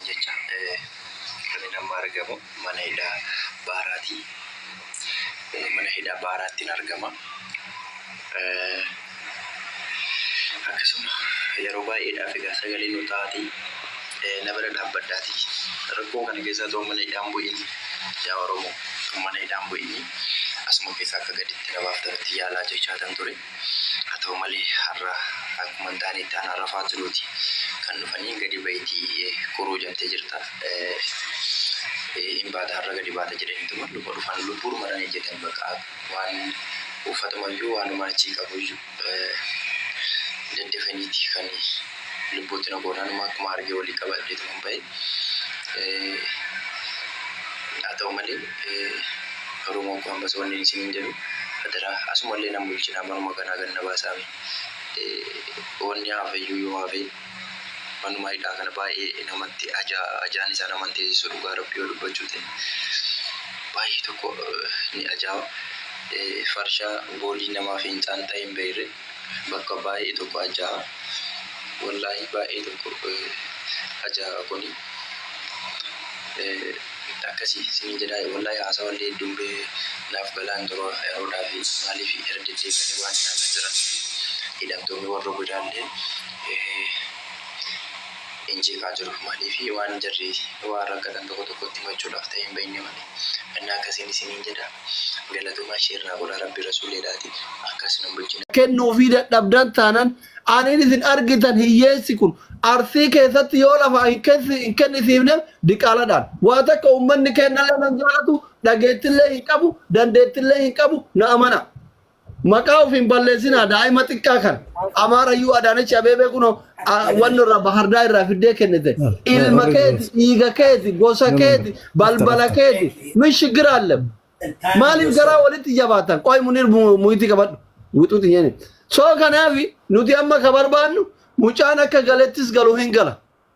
jecha kan inni amma argamu mana hidhaa baaraati. Mana hidhaa baaraattin argama. Akkasuma yeroo baay'eedhaaf egaa sagalee nu ta'aatii na bira dhaabbadhaatii rakkoo kana keessaa otoo mana hidhaan bu'in yaa Oromoo otoo mana hidhaan bu'inii asuma keessaa akka gaditti na baaftan itti yaalaa jechaatan ture. Haa ta'u malee har'a akkuma hin taane itti aanaa rafaa jiruuti kan dhufanii gadi bahitii kuruu jamtee jirta hin baata har'a gadi baata jedhaniituma luma dhufan lubbuudhuma dhan ejjetan baqa waan uffatumayyuu waanumaan achii qabuyyuu daddafaniiti kan Lubbuutti na goone anuma akkuma arge walii qabadheetuman bahe. Haa ta'u malee Oromoo koo ammas wannin isiniin jedhu adaraa asumallee nan bulchinaa manuma kanaa gad na baasaamee. Wanni hafeyyuu yoo hafe manuma hidhaa kana baay'ee namatti ajaan isaa nama hin teesisu dhugaa rabbii yoo dubbachuu ta'e. Baay'ee tokko ni ajaawa. Farshaa goolii namaa fincaan xahiin beeyree. Bakka baayee tokko ajaa'a wallaahii baayee tokko ajaa'a kuni akkasi isiniin jedhaa wallaahii haasawa illee hedduun bee naaf galaa hin jiru yeroo dhaafi maaliifi irra deddeebi'anii waan ilaalaa jiraniifi hidhamtoonni warra godaa illee hin jeeqaa jiru maaliifi waan jarri waan rakkatan tokko tokkotti himachuudhaaf ta'ee hin bahinni malee. Anna akkasin isinin jedha galatoma sher na godha rabbi rasuledhati akkas nun bulchina. kennuufii dadhabdan taanan aniin isin argitan hiyyeessi kun Arsii keessatti yoo lafaa hin kennisiifneef diqaaladhaan. Waa takka ummanni keennallee nan jaalatu dhageettillee hin qabu dandeettillee hin qabu na amanaa. Maqaa of hin balleessinaa daa'ima xiqqaa kan Amaarayyuu Adaanech Abeebee kunoo a- wanni irraa Bahardaa irraa fiddee kennite. Ilma keeti, dhiiga keeti, gosa keeti, balbala keeti. Min shigira allem. Maaliif garaa walitti jabaatan? Qoy munir muyitii qabadhu. Wixuuti nyeeni. Soo kanaafi nuti amma ka barbaannu mucaan akka galettis galu hin gala.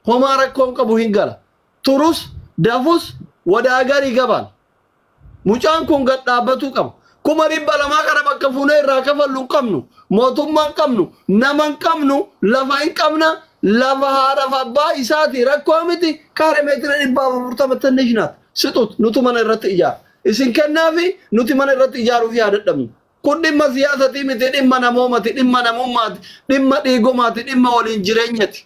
Homaa rakkoon qabu hin gala. Turus, dafus, wadaa garii gabaan. Mucaan kun gad dhaabbatuu qaba. Kuma dhibba lamaa kana bakka fuunee irraa kafallu hin qabnu. Mootummaa hin qabnu. Nama hin qabnu. Lafa hin qabna. Lafa haadhaaf abbaa isaati. Rakkoo miti. Kaare meetira dhibbaaf afurtama tinnish naat. Sixut nutu mana irratti ijaara. Isin kennaafi nuti mana irratti ijaaruuf yaa dadhabnu. Kun dhimma siyaasatii miti. Dhimma namoomati. Dhimma namummaati. Dhimma dhiigomaati. Dhimma waliin jireenyati.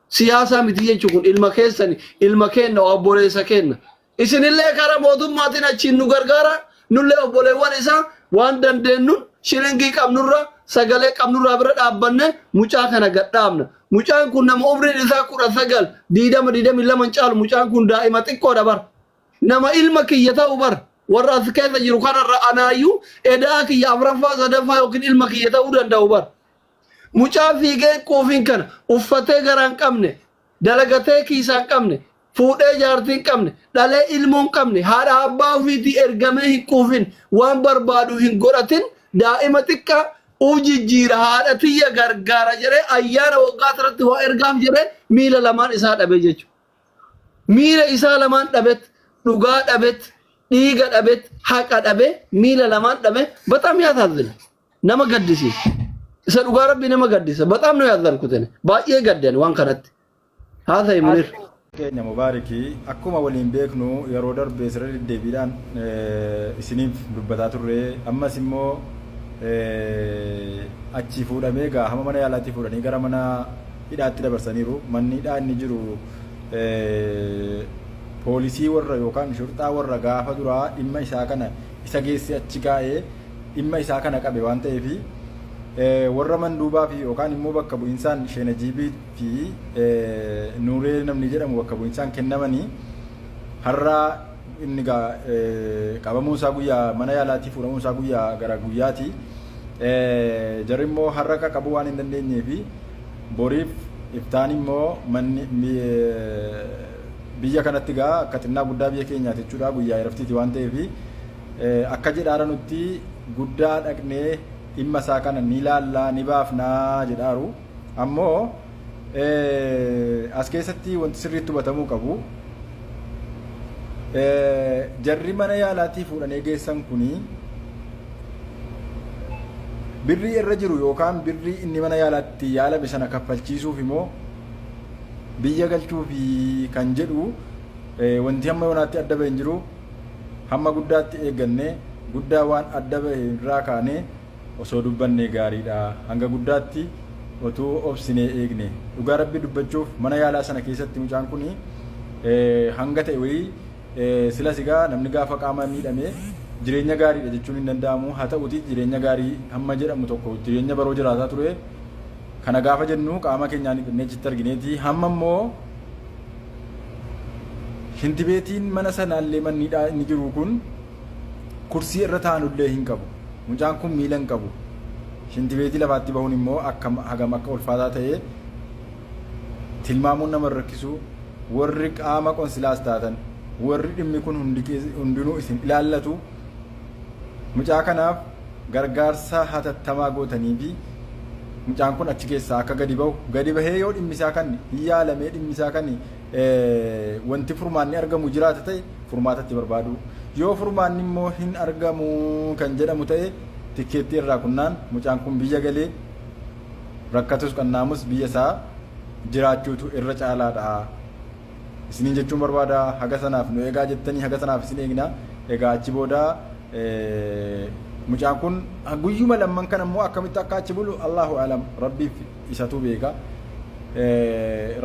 Siyaasaa miti jechuun kun ilma keessani. Ilma keenna. Obboleessa keenna. Isinillee karaa mootummaatiin achiin nu gargaaraa, nullee obboleewwan isaa waan dandeennun shilingii qabnurra, sagalee qabnurraa bira dhaabbannee mucaa kana gad dhaabna. Mucaan kun nama umriin isaa 19, 20, 22 hin caalu mucaan kun daa'ima xiqqoodha bar. Nama ilma kiyya ta'u bar. Warra as keessa jiru kanarra anaayyuu eda'aa kiyya 4ffaa, 3ffaa yookiin ilma kiyya ta'uu danda'u bar. Mucaa fiigee quufiin kana uffatee garaa hin qabne, Dalagatee kiisaa hin qabne, fuudhee jaartii hin qabne, dhalee ilmoo hin qabne, haadhaa abbaa ofiitii ergamee hin quufin, waan barbaadu hin godhatin, daa'ima xiqqaa, u jijjiira, haadha tiyya gargaara jedhee ayyaana waggaa tanatti waa ergaaf jedhee miila lamaan isaa dhabe jechu. Miila isaa lamaan dhabet, dhugaa dhabet, dhiiga dhabet, haqa dhabe, miila lamaan dhabe, baxaam yaasaazzina. nama gaddisiisa. Isa dhugaa rabbi nama gaddisa. Baxaam nu yaaddan kutene. Baay'ee gaddan waan kanatti. Haa ta'e munir. keenya mubaariki akkuma waliin beeknu yeroo darbe sirra deddeebiidhaan eh, isiniif dubbataa turre ammas immoo eh, achii fuudhamee gaa hama mana yaalaatii fuudhanii gara mana hidhaatti dabarsaniiru manni hidhaa inni jiru eh, poolisii warra yookaan shurxaa warra gaafa duraa dhimma isaa kana isa geesse achi kaa'ee dhimma isaa kana qabe waan ta'eef warra manduubaa fi yookaan immoo bakka bu'insaan sheenajiibii fi nuuree namni jedhamu bakka bu'insaan kennamanii har'a inni qabamuu isaa guyyaa mana yaalaatii fuudhamuu isaa guyyaa gara guyyaati. Jarri immoo har'a qaqqabuu waan hin dandeenyee fi boriif iftaan immoo manni biyya kanatti gaa akka xinnaa guddaa biyya keenyaati jechuudha guyyaa iraftiiti waan ta'eef Akka jedhaara nutti guddaa dhaqnee dhimma isaa kana ni laallaa ni baafnaa jedhaaru. Ammoo as keessatti wanti sirriitti hubatamuu qabu jarri mana yaalaatii fuudhanee geessan kuni birrii irra jiru yookaan birrii inni mana yaalaatti yaalame sana kaffalchiisuuf immoo biyya galchuufi kan jedhu wanti hamma yoonaatti adda ba'e hin jiru. Hamma guddaatti eeggannee guddaa waan adda bahe irraa kaanee osoo dubbannee gaariidha. Hanga guddaatti otuu obsinee eegne. Dhugaa Rabbii dubbachuuf mana yaalaa sana keessatti mucaan kun hanga ta'e wayii silas egaa namni gaafa qaama miidhame jireenya gaariidha jechuun hin danda'amu. Haa ta'uutii jireenya gaarii hamma jedhamu tokko jireenya baroo jiraataa ture. Kana gaafa jennu qaama keenyaan dhiqannee achitti argineeti. Hamma immoo shintibeetiin mana sanaallee manni inni jiru kun kursii irra taa'anullee hin qabu. Mucaan kun miila hin qabu. Shintibeetii lafaatti bahuun immoo akkam hagam akka ulfaataa ta'e tilmaamuun nama rakkisu warri qaama qonsilaas taatan warri dhimmi kun hundinuu isin ilaallatu mucaa kanaaf gargaarsa hatattamaa gootanii fi mucaan kun achi keessaa akka gadi bahu gadi bahee yoo dhimmisaa kan hin yaalamee dhimmisaa kan wanti furmaanni argamu jiraata ta'e furmaatatti barbaadu yoo furmaanni immoo hin argamu kan jedhamu ta'e tikkeettii irraa kunnaan mucaan kun biyya galee rakkatus qannaamus biyya isaa jiraachuutu irra caalaadha. isiniin jechuun barbaada. Haga sanaaf nu eegaa jettanii haga sanaaf isin eegna. Egaa achi booda mucaan kun guyyuma lamman kan ammoo akkamitti akka achi bulu Allahu alam rabbiif isatu beeka.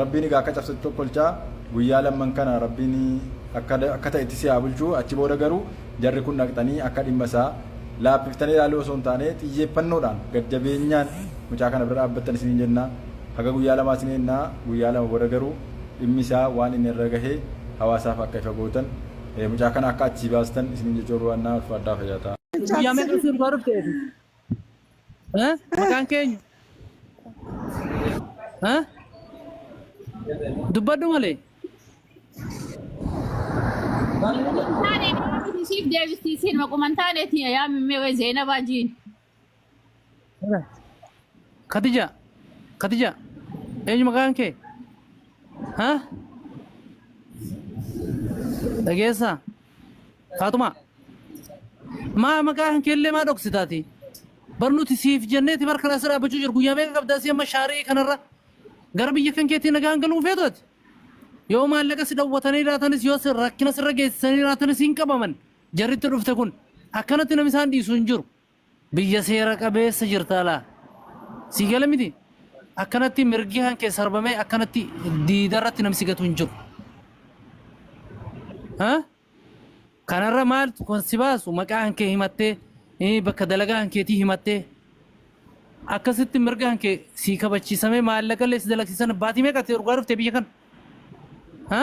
Rabbiin egaa akka cabsatu tokkolchaa guyyaa lamman kana rabbiin akka ta'etti si haa bulchu. Achi booda garuu jarri kun dhaqxanii akka dhimma isaa laaffiftanii ilaaluu osoo hin taane xiyyeeffannoodhaan gad jabeenyaan mucaa kana bira dhaabbattan isiniin jenna. Haga guyyaa lamaa isin eegna guyyaa lama booda garuu dhimmi isaa waan inni irra gahe hawaasaaf akka ifa gootan mucaa kana akka achii baastan isinin jechuu barbaannaa ulfaadhaa fayyaa ta'a. Guyyaa meeqa si duraa dhufte ati? Eh? Maqaan keenyu? Eh? Dubbadhu malee. Taane siif deebistii seenuma quman taaneeti yaa mimmee Zeenabaa jiin. Katija, Katija, eenyu maqaan kee? Ha? Dhageessaa? Faatumaa? Maa maqaan kee illee maa dhoksitaati? Bar nuti siif jenneeti bar kana asirra dhaabbachuu jiru guyyaa meeqa qabdaa si amma shaarii kanarra gara biyya kan keetii nagaan galuu feetu ati? Yoo maallaqa si dhowwatanii jiraatanis yoo si- rakkina sirra geessisanii jiraatanis hin qabaman. Jarri itti dhufte kun akkanatti namni isaan dhiisu hin jiru. Biyya seera qabeessa jirtaa laa. Sii gale miti? Akkanatti mirgi kan kee sarbamee akkanatti diida irratti namni si gatu hin jiru. Ha? Kanarra maaltu kan si baasu maqaa kan kee himattee eh, bakka dalagaa kan keetii himattee akkasitti mirga kan kee sii kabachiisamee maallaqallee si dalagsiisan baatii meeqa ati dhugaa dhufte biyya kana? Ha?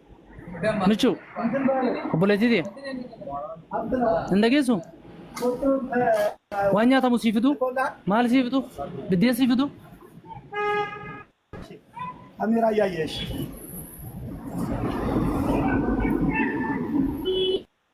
Michuu, obboleettii tiyya. Hin dhageessu? Waan nyaatamu sii fidu? Maal sii fidu? Biddeen sii fidu? Amira Yayesh.